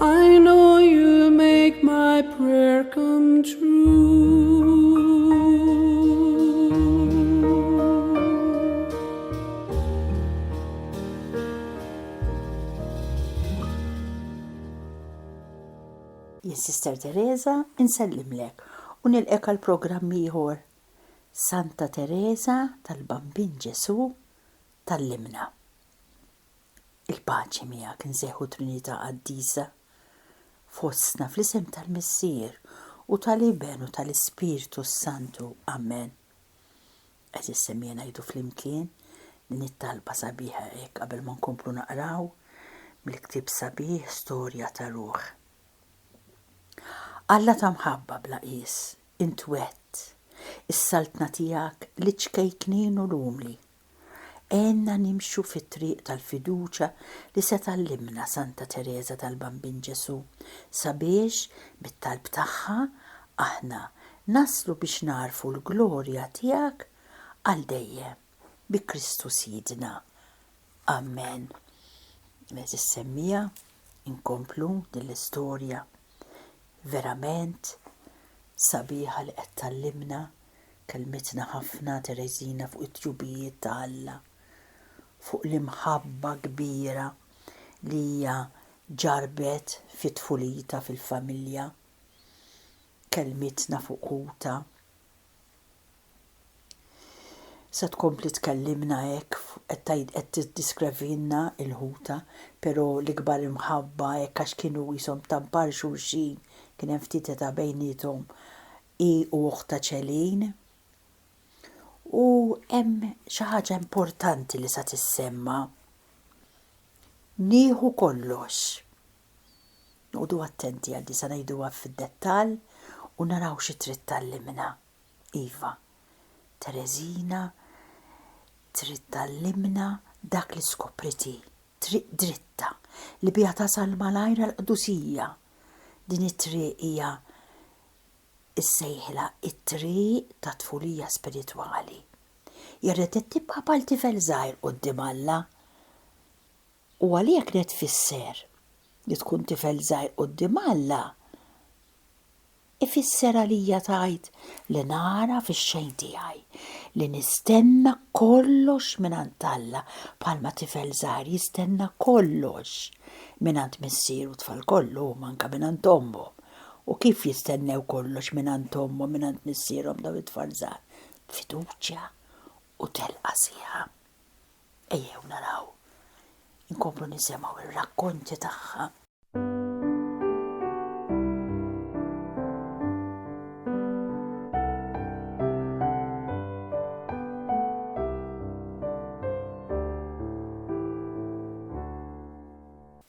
I know you make my prayer come true. Jien Sister Teresa insellimlek u nilqek għal programm ieħor. Santa Teresa tal-Bambin Ġesu tal-Limna. Il-paċi miegħek nsejħu Trinità Qaddisa fostna fl-isem tal-Missier u tal-Iben u tal-Ispirtu s-Santu. Amen. Għeżiż semmija ngħidu flimkien din it-talba sabiħa hekk qabel ma nkomplu naqraw mill-ktieb sabiħ Storja ta' Ruħ. Alla ta' mħabba bla qies, int wett is-saltna tiegħek liċ-ċkejknin u l-umli. Għenna nimxu fit-triq tal-fiduċja li se tgħallimna Santa Tereża tal-Bambin Ġesù sabiex, bit-talb tagħha, aħna naslu biex nagħrfu l-glorja tiegħek għal dejjem. Bi Kristu Sidna. Amen. Għeżież semmiegħa, inkomplu din l-istorja verament sabiħa li qed tgħallimna Kellmitna ħafna Tereżina fuq it-tjubijiet ta' Alla, fuq l-imħabba kbira li hija ġarrbet fi tfulitha fil-familja. Kellmitna fuq ħutha. Se tkompli tkellimna hekk qed tgħid qed tiddiskrevilna l-ħutha, però l-ikbar imħabba hekk għax kienu qishom tampar xulxin, kien hemm ftit età bejniethom, Hi u oħtha Celine. U hemm xi ħaġa importanti li sa tissemma'. Nieħu kollox. Noqogħdu attenti għal din sa ngħiduha fid-dettall u naraw xi trid tgħallimna. Iva, Tereżina trid tgħallimna dak li skopriet hi, triq dritta li biha tasal malajr għall-qdusija. Din it-triq hija issejħilha t-triq tat-tfulija spiritwali. Irrid ittibqa' bħal tifel żgħir quddiem Alla. U għalija kienet tfisser li tkun tifel żgħir quddiem Alla ifisser għalija tgħid li nara fix-xejn tiegħi, li nistenna kollox mingħand Alla bħalma tifel żgħir jistenna kollox mingħand missieru tfal kollu huma anke mingħand ommhom. U kif jistennew kollox mingħand ommhom u mingħand missierhom dawn it-tfal żgħar? B'fiduċja u telqa sħiħa. Ejjew naraw, inkomplu nisimgħu r-rakkonti tagħha.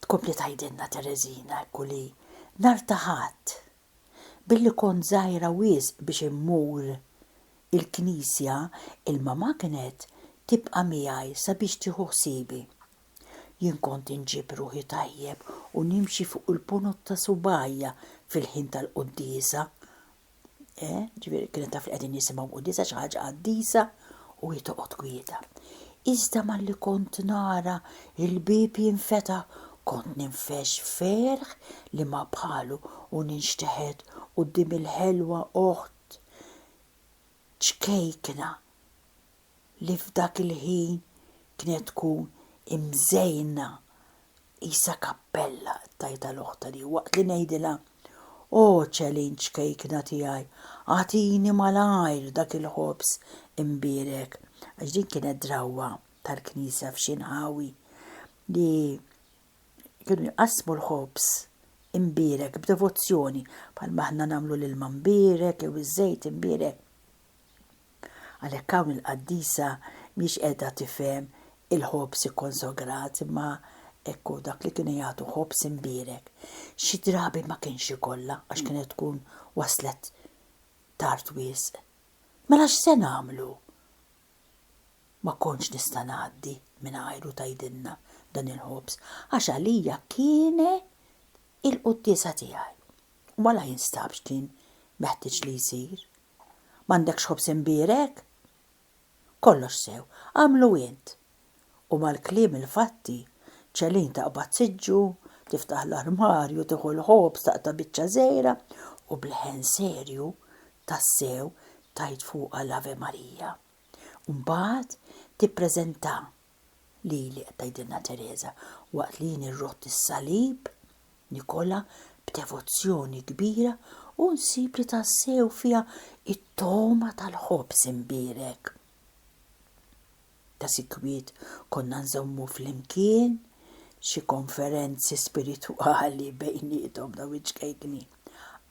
Tkompli tgħidilna Tereżina hekk li nhar ta' Ħadd, billi kont żgħira wisq biex immur il-knisja, il-mamà kienet tibqa' miegħi sabiex tieħu ħsiebi. Jien kont inġib ruħi tajjeb u nimxi fuq il-punut ta' subgħajja fil-ħin tal-quddiesa, Eh, ġifieri kienet taf li qegħdin jisimgħu qudiesa xi ħaġa qaddisa u hi toqgħod kwieta. Iżda malli kont nara il-bib jinfeta kont ninfex ferħ li ma bħalu u ninxteħed quddiem il-ħelwa oħt ċkejkna li f'dak il-ħin kienet tkun imżejna qisha kappella, tajtha l-oħta li waqt li ngħidilha, O Celine ċkejkna tiegħi, agħtini malajr dak il-ħobż imbierek, għax din kienet drawwa tal-knisja f'xi nħawi li kienu jqassmu l-ħobż imbierek b'devozzjoni bħalma aħna nagħmlu l-ilma mbierek jew iż-żejt imbierek. Għalhekk hawn il-qaddisa mhiex qiegħda tifhem il-ħobż ikkonsograt imma hekk hu dak li kienu jagħtu ħobż imbierek. Xi drabi ma kienx ikollha għax kienet tkun waslet tard wisq. Mela x'se nagħmlu? Ma kontx nista' ngħaddi mingħajru tgħidilna dan il-ħobż għax għalija kien il-quddiesa tiegħi. U għala jinstabx kien meħtieġ li jsir? M'għandekx ħobż imbierek? Kollox sew, agħmlu int! U mal-kliem il-fatti, Ċelin taqbad siġġu, tiftaħ l-armarju, tieħu l-ħobż, taqta' biċċa żgħira u b'leħen serju tassew tgħid fuqha l-Ave Marija. Mbagħad tippreżentah lili, qed tgħidilna Tereża, waqt li jien irrott is-salib, nikolha b'devozzjoni kbira u nsib li tassew fiha t-togħma tal-ħobż imbierek. Ta' sikwit konna nżommu flimkien xi konferenzi spiritwali bejniethom dawn iċ-ċkejkni.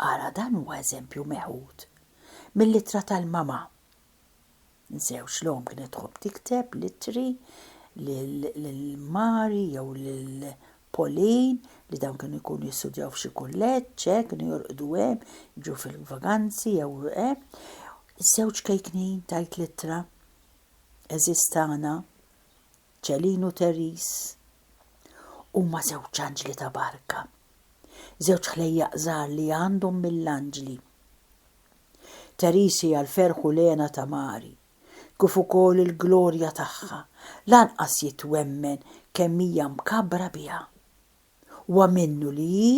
Ara dan huwa eżempju meħud mill-ittra tal-mama Nżewġ l-omm kienet tħobb tikteb l-ittri lil Mari jew lil Pauline li dawn kienu jkunu jistudjaw f'xi kulleġġ, eh, kienu jorqdu hemm, jiġu fil-vaganzi jew eh. Iż-żewġ kejknin tajt l-ittra eżiż tagħna, Ċelin u Teris, huma żewġ anġli ta' barka, żewġ ħlejjaq żgħar li għandhom mill-anġli. Therese hija l-ferħ u l-hena ta' Mary, kif ukoll il-glorja tagħha, lanqas jitwemmen kemm hija mkabbra biha. Huwa minnu li hi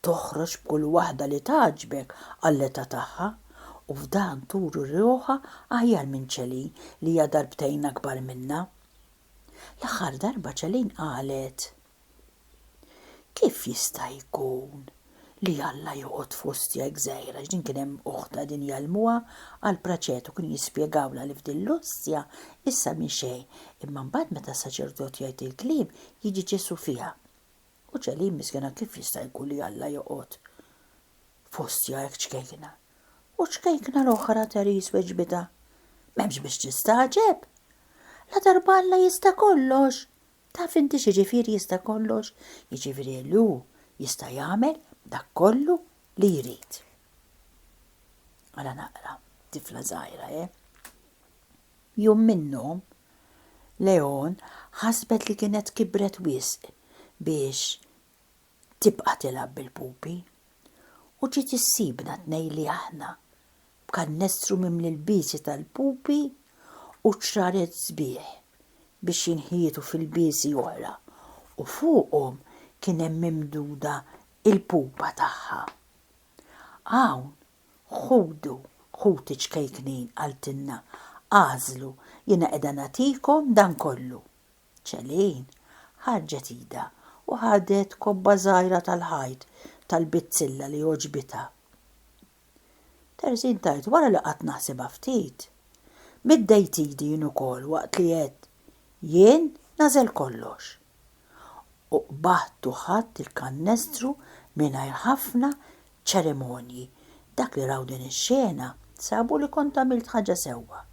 toħroġ b'kull waħda li tgħaġġbek għall-età tagħha, u f'dan turi ruħha aħjar minn Celine li hija darbtejn akbar minnha. L-aħħar darba Celine qalet. Kif jista' jkun li Alla joqgħod fost jgħid gżejjer għax din kien hemm uħt qegħdin jgħallmuha għal praċetu kienu jispjegawlha li f'din l-ostja issa minn xejn imma mbagħad meta s-saċerdot jgħid il-kliem jiġi Ġesù fiha. U Ċelin miskina kif jista' jkun li Alla joqgħod f'ostja hekk ċkejkna? U ċkejkna l-oħra Therese weġbitha, M'hemmx biex tistagħġeb! La darba Alla jista' kollox! Taf inti x'jiġifieri jista' kollox? Jiġifieri li hu jista' jagħmel dak kollu li jrid. Ara naqra, tifla żgħira, eh? Jum minnhom, Leon ħasbet li kienet kibret wisq biex tibqa' tilgħab bil-pupi u ġiet issibna tnejli aħna b'kannestru mimli l-biesi tal-pupi u ċraret sbieħ biex jinħietu fil-biesi oħra u fuqhom kien hemm mimduda il-pupa tagħha. Hawn, ħudu, ħuti ċkejknin, qaltilna, agħżlu, jiena qiegħda nagħtikom dan kollu. Celine ħarġet idha u ħadet kobba żgħira tal-ħajt tal-bizzilla li għoġbitha. Terzin tgħid wara li qgħadt naħsibha ftit, middejt idi jien ukoll waqt li għedt, Jien nagħżel kollox. U qbadt u ħadt il-kannestru mingħajr ħafna ċerimonji, dak li raw din ix-xena sabu li kont għamilt ħaġa sewwa.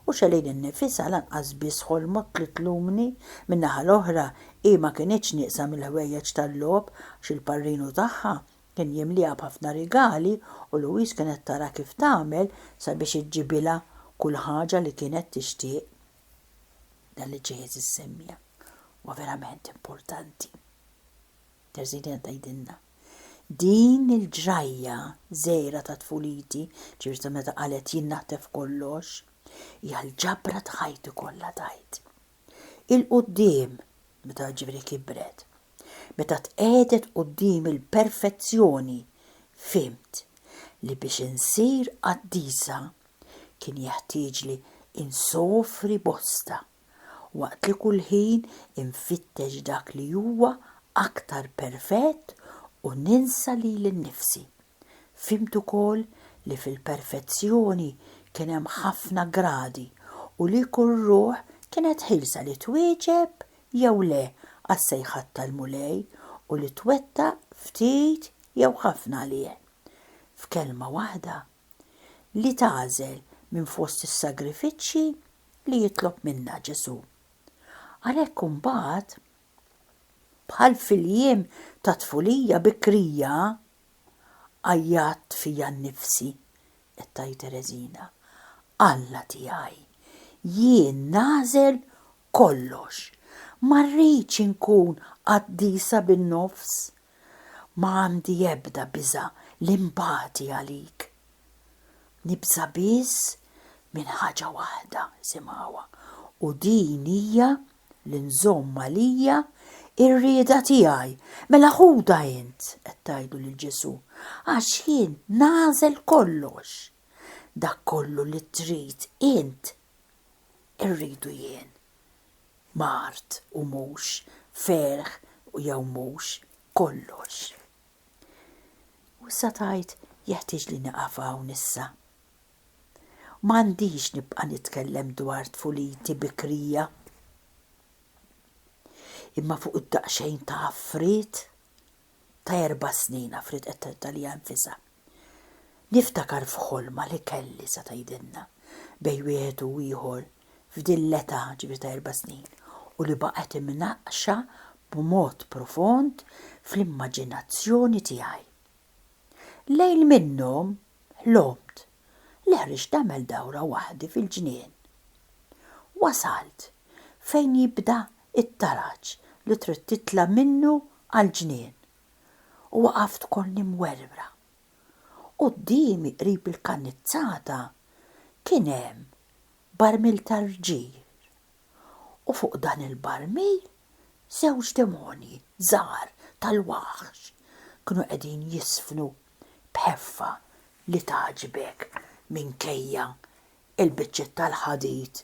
U Xelin innifisha lanqas biss ħolmot li tlumni, min-naħa l-oħra hi ma kinitx nieqsa mill-ħwejjeġ tal-logħob għax il-parrinu tagħha kien jimliha b'ħafna rigali u Louise kienet tara kif tagħmel sabiex iġġibilha kull ħaġa li kienet tixtieq. Dan li ġej eżiż semmija huwa verament importanti. Terzidien tgħidilna, Din il-ġrajja żgħira ta' tfuliti, ġifieri ta' meta qalet jien naħtef kollox, hija l-ġabra ta' ħajti kollha tgħid. Il-quddiem, meta ġifieri kibret, meta tqiegħdet quddiem il-perfezzjoni, fhimt li biex insir qaddisa kien jeħtieġli insofri bosta. waqt li kull ħin infittex dak li huwa aktar perfett u ninsa lili nnifsi. Fhimt ukoll li fil-perfezzjoni kien hemm ħafna gradi u li kull ruħ kienet ħielsa li twieġeb jew le għas-sejħat tal-Mulej u li twettaq ftit jew ħafna għalih. F'kelma waħda, li tagħżel minn fost is-sagrifiċċji li jitlob minnha Ġesù. Għalhekk imbagħad, bħal fil-jiem ta' tfulija bikrija, għajjatt fija nnifsi, qed tgħid Tereżina, Alla tiegħi, jien nagħżel kollox, ma rridx inkun qaddisa bin-nofs. Ma għandi ebda biża' li nbati għalik. Nibża' biss minn ħaġa waħda, simgħuha, u din hija li nżomm għalija r-rieda tiegħi. Mela ħudha int, qed tgħidu lil Ġesù, għax jien nagħżel kollox. Dak kollu li trid int irridu jien, mard u mhux, ferħ jew mhux, kollox. U issa tgħid jeħtieġ li nieqaf hawn issa. M'għandix nibqa' nitkellem dwar tfuliti bikrija. Imma fuq id-daqsxejn ta' affriet, ta' erba' snin Afrit qed tedda liha nfisha. Niftakar f'ħolma li kelli sa tgħidilna bejn wieħed u ieħor f'din l-età ġifieri ta' erba' snin u li baqgħet imnaqqxa b'mod profond fl-immaġinazzjoni tiegħi. Lejl minnhom ħlomt li ħriġt nagħmel dawra waħdi fil-ġnien. Wasalt fejn jibda it-taraġ li trid titla' minnu għall-ġnien, u waqaft konni mwerwra. Quddiemi qrib il-kannizzata kien hemm barmil tar-rġir, u fuq dan il-barmil żewġ demonji żgħar tal-waħx kienu qegħdin jiżfnu b'ħeffa li tgħaġġbek minkejja l-biċċiet tal-ħadid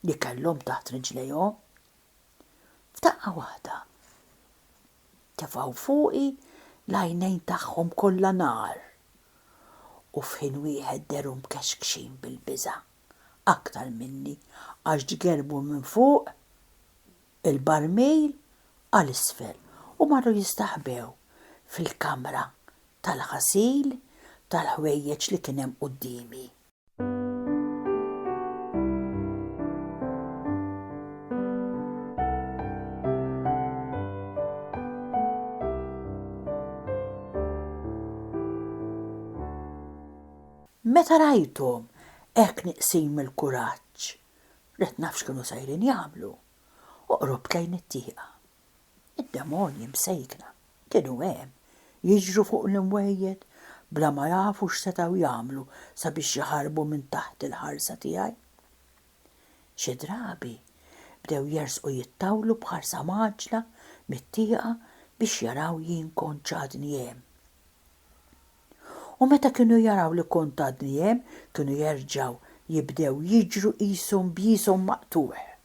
li kellhom taħt riġlejhom. F'daqqa waħda tefgħu fuqi l-għajnejn tagħhom kollha nar u f'ħin wieħed dehru mkexkxin bil-biża' aktar minni għax ġgerbu minn fuq il-barmil għal isfel u marru jistaħbew fil-kamra tal-ħasil tal-ħwejjeġ li kien hemm quddiemi. Meta rajthom hekk nieqsin mill-kuraġġ, bdejt naf x'kienu sejrin jagħmlu, u qrubt lejn it-tieqa. Id-demonji msejkna kienu hemm, jiġru fuq l-imwejjed bla ma jafu x'setgħu jagħmlu sabiex jaħarbu minn taħt il-ħarsa tiegħi. Xi drabi bdew jersqu jittawlu b'ħarsa mgħaġġla mit-tieqa biex jaraw jien kontx għadni hemm. U meta kienu jaraw li kont għadni hemm kienu jerġgħu jibdew jiġru qishom b'jishom maqtugħ.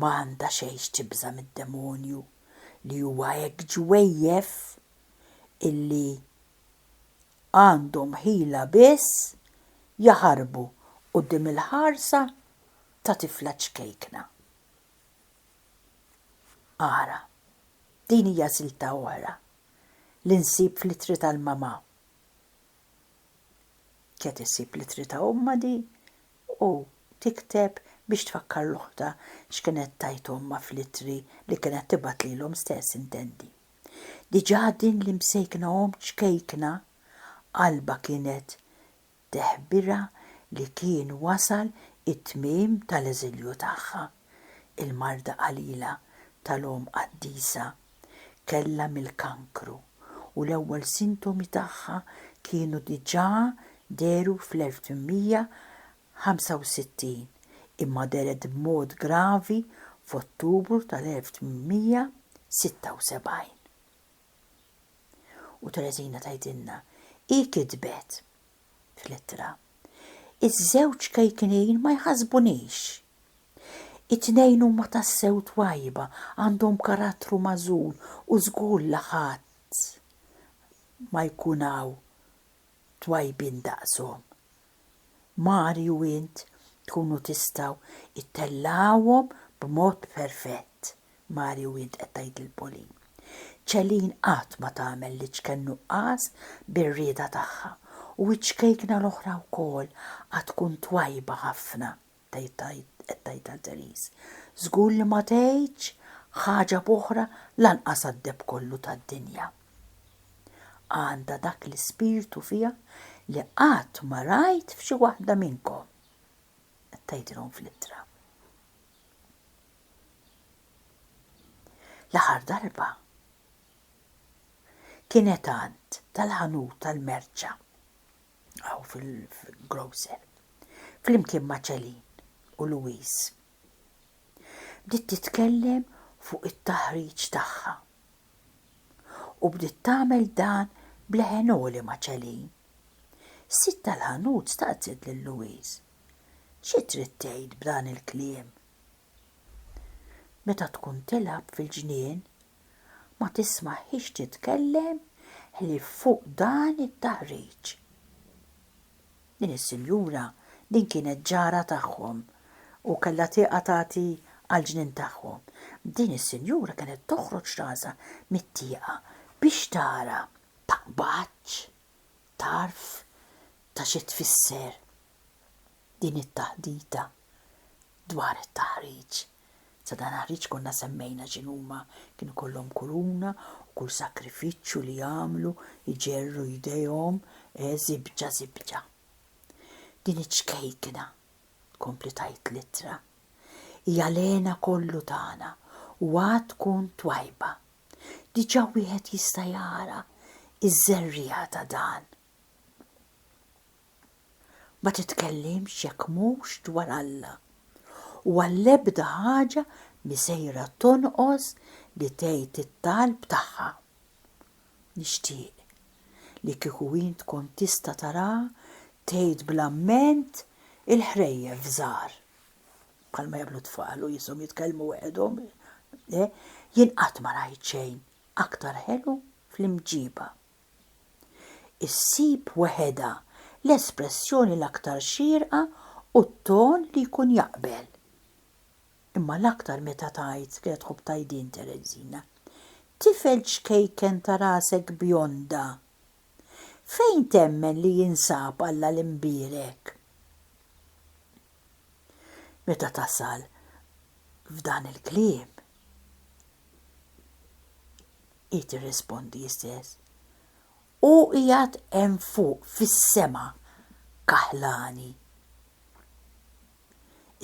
ma għandha xejn x'tibża' mid-demonju li huwa hekk ġwejjef illi għandhom ħila biss jaħarbu quddiem il-ħarsa ta' tifla ċkejkna. Ara, din hija silta oħra li nsib fl-ittri tal-mamà. Qed issib l-ittri ta' ommha di u tikteb biex tfakkar 'l oħtha x'kienet tgħid ommha fl-ittri li kienet tibgħat lilhom stess intendi. Diġà din l-imsejkna omm ċkejkna qalbha kienet teħbirha li kien wasal it-tmiem tal-eżilju tagħha, il-marda qalila tal-omm qaddisa Kellha mill-kankru u l-ewwel sintomi tagħha kienu diġà dehru fl-1865, imma dehret b'mod gravi f'Ottubru tal-1876. U Tereżina tgħidilna, hi kitbet, fl-ittra. Iż-żewġ kejknin ma jħassbunix. It-tnejn huma tassew twajba, għandhom karattru magħżul u żgur li ħadd ma jkun hawn twajbin daqshom. Mari u int tkunu tistgħu ttellgħuhom b'mod perfett. Mari u int qed tgħid lil Pauline. Celine qatt ma tagħmel li ċken nuqqas bir-rieda tagħha u ċ-ċkejkna l-oħra wkoll għad tkun twajba ħafna qed tgħidha Therese. Żgur li ma tgħidx ħaġa b'oħra lanqas għad-deheb kollu tad-dinja. Għandha dak l-ispirtu fiha li qatt ma rajt f'xi waħda minnkom, qed tgħidilhom fl-ittra. L-aħħar darba kienet għand tal-ħanut tal-merċa hawn fil-grocer flimkien ma' Celine u Louise. Bdiet titkellem fuq it-taħriġ tagħha u bdiet tagħmel dan b'leħen għoli ma' Celine. Is-sid tal-ħanut staqsiet lil Louise. Xi trid tgħid b'dan il-kliem? Meta tkun tilgħab fil-ġnien, ma tismagħhiex titkellem ħlief fuq dan it-taħriġ. Din is-sinjura din kienet ġara tagħhom u kellha tieqa tagħti għall-ġnien tagħhom. Din is-sinjura kienet toħroġ rasha mit-tieqa biex tara. Taqbadx Taf ta' xi tfisser din it-taħdita dwar it-taħriġ? Sadantaħriġ konna semmejna x'inhuma, kien ikollhom kuruna u kull sakrifiċċju li għamlu jġerru jdejhom eh żibġa żibġa. Din iċ-ċkejkna, tkompli tgħid l-ittra, hija l-hena kollu tagħna u għad tkun twajba Diġà wieħed jista' jara ż-żerriegħa ta' dan. Ma titkellimx jekk mhux dwar Alla, u għall-ebda ħaġa mhi sejra tonqos li tgħid it-talb tagħha. Nixtieq li kieku int kont tista' taraha tgħid bl-amment il-ħrejjef żgħar. bħalma jagħmlu tfal u jisom jitkellmu weħedhom, le, jien qatt ma rajt xejn aktar ħelu fl-imġiba. Issib weħedha l-espressjoni l-aktar xierqa u t-ton li jkun jaqbel. Imma l-aktar meta tgħid kienet tħobb tajdin Terezina. Tifel ċkejken ta' rasek bjonda. Fejn temmen li jinsab Alla l-imbierek? Meta tasal f'dan il-kliem, hi tirrispondi hi stess, Hu qiegħed hemm fuq fis-sema kaħlani.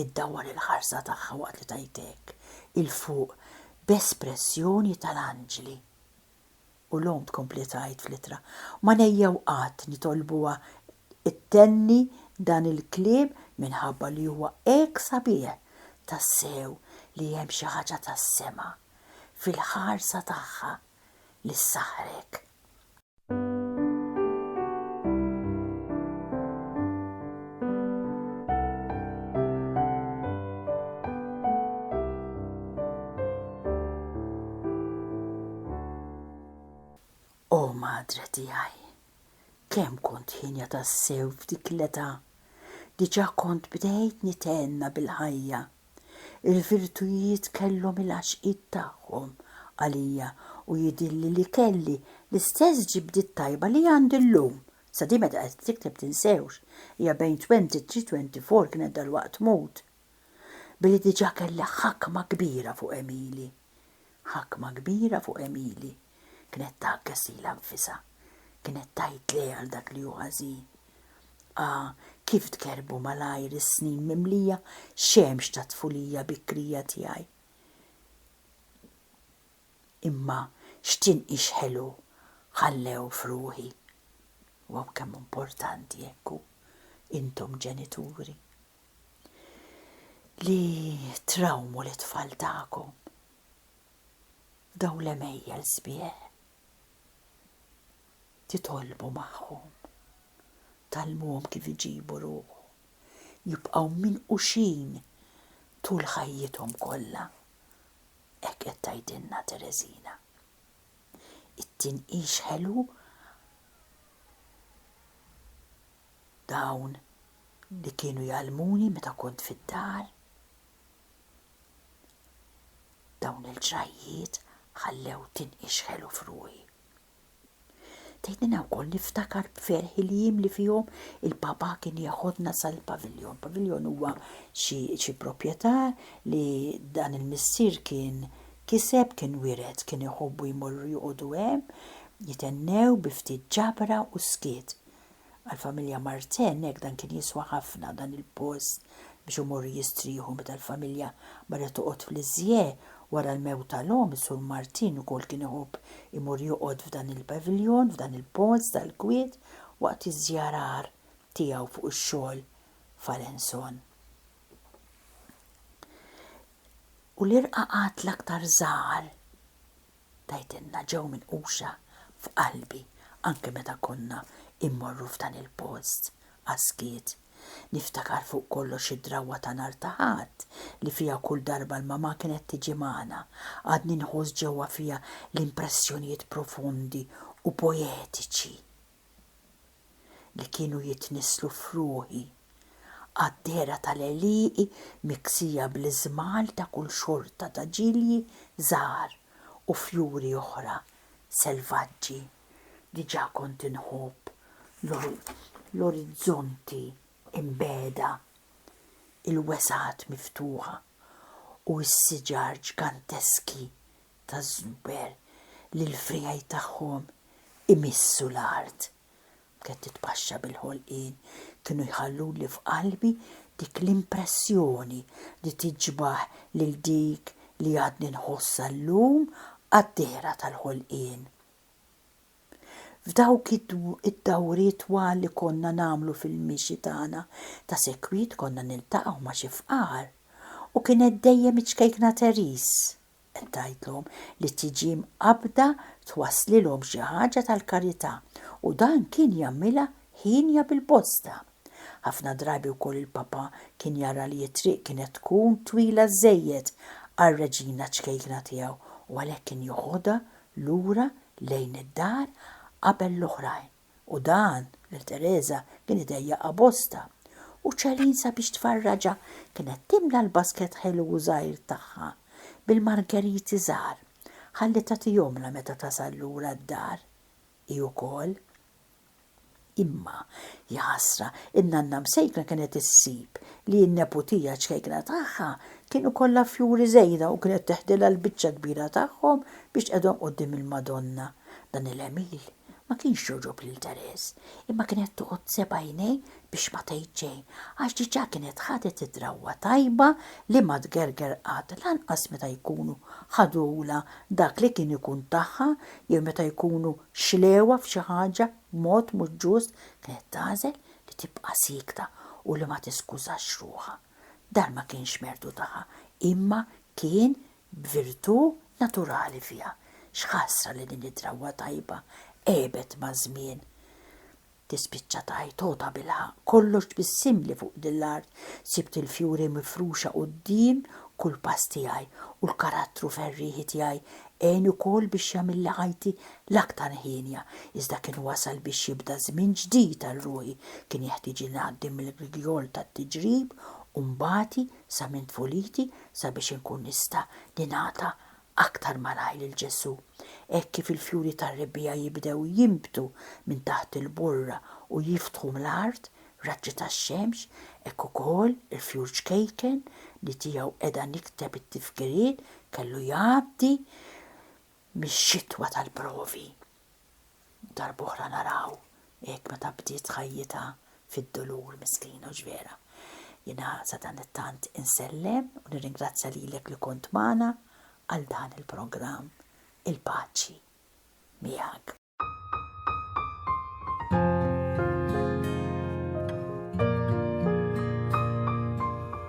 Iddawwar il-ħarsa tagħha waqt li tgħid hekk 'il fuq b'espressjoni tal-anġli. U l-omm tkompli tgħid fl-ittra, Ma nejjew qatt nitolbuha ttenni dan il-kliem minħabba li huwa hekk sabiħ, tassew li hemm xi ħaġa tas-sema fil-ħarsa tagħha li ssaħħrek. O madre tiegħi, kemm kont ħinja tassew f'dik l-età, diġà kont bdejt nitenna bil-ħajja. Il-virtujiet kellhom il-għaxqiet tagħhom għalija u jidhirli li kelli l-istess ġibdiet tajba li għandi llum Sa din meta qed tikteb tinsewx, hija bejn 23-24 kienet dalwaqt tmut. Billi diġà kellha ħakma kbira fuq Emili. Ħakma kbira fuq Emili. Kienet tgħagges lilha nfisha. Kienet tgħid le għal dak li hu ħażin. Ah, kif tgerrbu malajr is-snin mimlija xemx tat-tfulija bikrija tiegħi. Imma x'tinqix ħelu ħallew f'ruħi. Waw kemm hu importanti hekk hu, intom ġenituri, li trawmu lit-tfal tagħkom f'dawn l-għemejjel sbieħ. Titolbu magħhom, tgħallmuhom kif iġibu ruħhom, jibqgħu minquxin tul ħajjithom kollha hekk qed tgħidilna Tereżina. It-tinqix ħelu dawn li kienu jgħallmuni meta kont fid-dar. Dawn il-ġrajjiet ħallew tinqix ħelu f'ruħi. Tgħidilna wkoll niftakar b'ferħ il-jiem li fihom il-Papa kien jeħodna sal-paviljon. Paviljon huwa xi proprjetà li dan il-missier kien kiseb, kien wiret, kien iħobbu jmorru joqogħdu hemm, jithennew bi ftit ġabra u skiet. Għall-familja Martin hekk dan kien jiswa ħafna dan il-post biex imorru jistrieħu meta l-familja marret toqgħod f'Lisieux wara l-mewt tal-omm is-Sur Martin ukoll kien iħobb imur joqgħod f'dan il-paviljon f'dan il-post tal-kwiet waqt iż-żjarar tiegħu fuq ix-xogħol f'Alençon. U l-irqaqat l-aktar żgħar Tgħidilna ġew minquxa f'qalbi anke meta konna immorru f'dan il-post għas-skiet. Niftakar fuq kollox id-drawwa ta' nhar ta' Ħadd li fiha kull darba l-mamà kienet tiġi magħna, għadni nħoss ġewwa fija l-impressjonijiet profondi u poetiċi li kienu jitnisslu f'ruħi, qaddera tal-għelieqi miksija bl-iżmal ta' kull xorta ta' ġilji żgħar u fjuri oħra selvaġġi, diġà kont inħobb l-orizzonti mbegħda, il-wesgħat miftuħa u s-siġar ġganteski taż-żnuber li l-friegħi tagħhom imissu l-art. B'kett titpaxxa bil-ħolqien kienu jħalluli f'qalbi dik l-impressjoni li tiġbah lil dik li għadni nħossha llum għad-dehra tal-ħolqien. F'dawk id-dawriet twal li konna nagħmlu fil-mixi tagħna ta' sekwit konna niltaqgħu ma' xi fqar u kienet dejjem iċ-ċkejkna Therese Tgħidlhom li t-tiġi mqabbda twasslilhom xi ħaġa tal-karità u dan kien jagħmilha hienja bil-bosta. Ħafna drabi wkoll il-Papa kien jara li t-triq kienet tkun twila żżejjed għar-Reġina ċkejkna tiegħu u għalhekk kien joħodha lura lejn id-dar qabel l-oħrajn. u dan lil Tereża kien idejjaqha bosta, u Celine sabiex tfarraġha kienet timla l-basket ħelu u żgħir tagħha bil-margeriti żgħar ħalli tagħtihomlha meta tasal lura d-dar hi wkoll. Imma, jaħasra, in-nanna msejkna kienet issib li n-neputija ċkejkna tagħha kien ikollha fjuri żejda u kienet teħdilha l-biċċa kbira tagħhom biex tqegħdhom quddiem il-Madonna. Dan il-għemil Ma kienx jogħġob lil Therese, imma kienet toqgħod seb' għajnejh biex ma tgħid xejn, għax diġà kienet ħadet id-drawwa tajba li ma tgerger qatt lanqas meta jkunu ħadulha dak li kien ikun tagħha jew meta jkunu xlewha f'xi ħaġa b'mod mhux ġust kienet tagħżel li tibqa' siekta u li ma tiskużax ruħha. Dan ma kienx mertu tagħha imma kien b'virtù naturali fiha. X'ħasra li din id-drawwa tajba għebet maż-żmien! Tispiċċa tgħid, O tabilħaqq, kollox tbissimli fuq din l-art, sibt il-fjuri mifruxa quddiem kull pass tiegħi, u l-karattru ferrieħi tiegħi għen ukoll biex jagħmilli ħajti l-aktar hienja. Iżda kien wasal biex jibda żmien ġdid għal ruħi, kien jeħtieġli ngħaddi mill-grigjol tat-tiġrib u mbati, sa minn tfuliti sabiex inkun nista' ningħata aktar malajr lil Ġesù, hekk kif il-fjuri tar-rebbiegħa jibdew jinbtu minn taħt il-borra u jiftħu ml-art raġġi tax-xemx, hekk ukoll il-fjur ċkejken li tiegħu qiegħda nikteb it-tifkiriet kellu jgħaddi mix-xitwa tal-provi. Darb'oħra naraw hekk meta bdiet ħajjitha fid-dulur miskina hux vera. Jiena sadanittant insellem u nirringrazzja lilek li kont magħna għal dan il-programm. Il-paċi miegħek.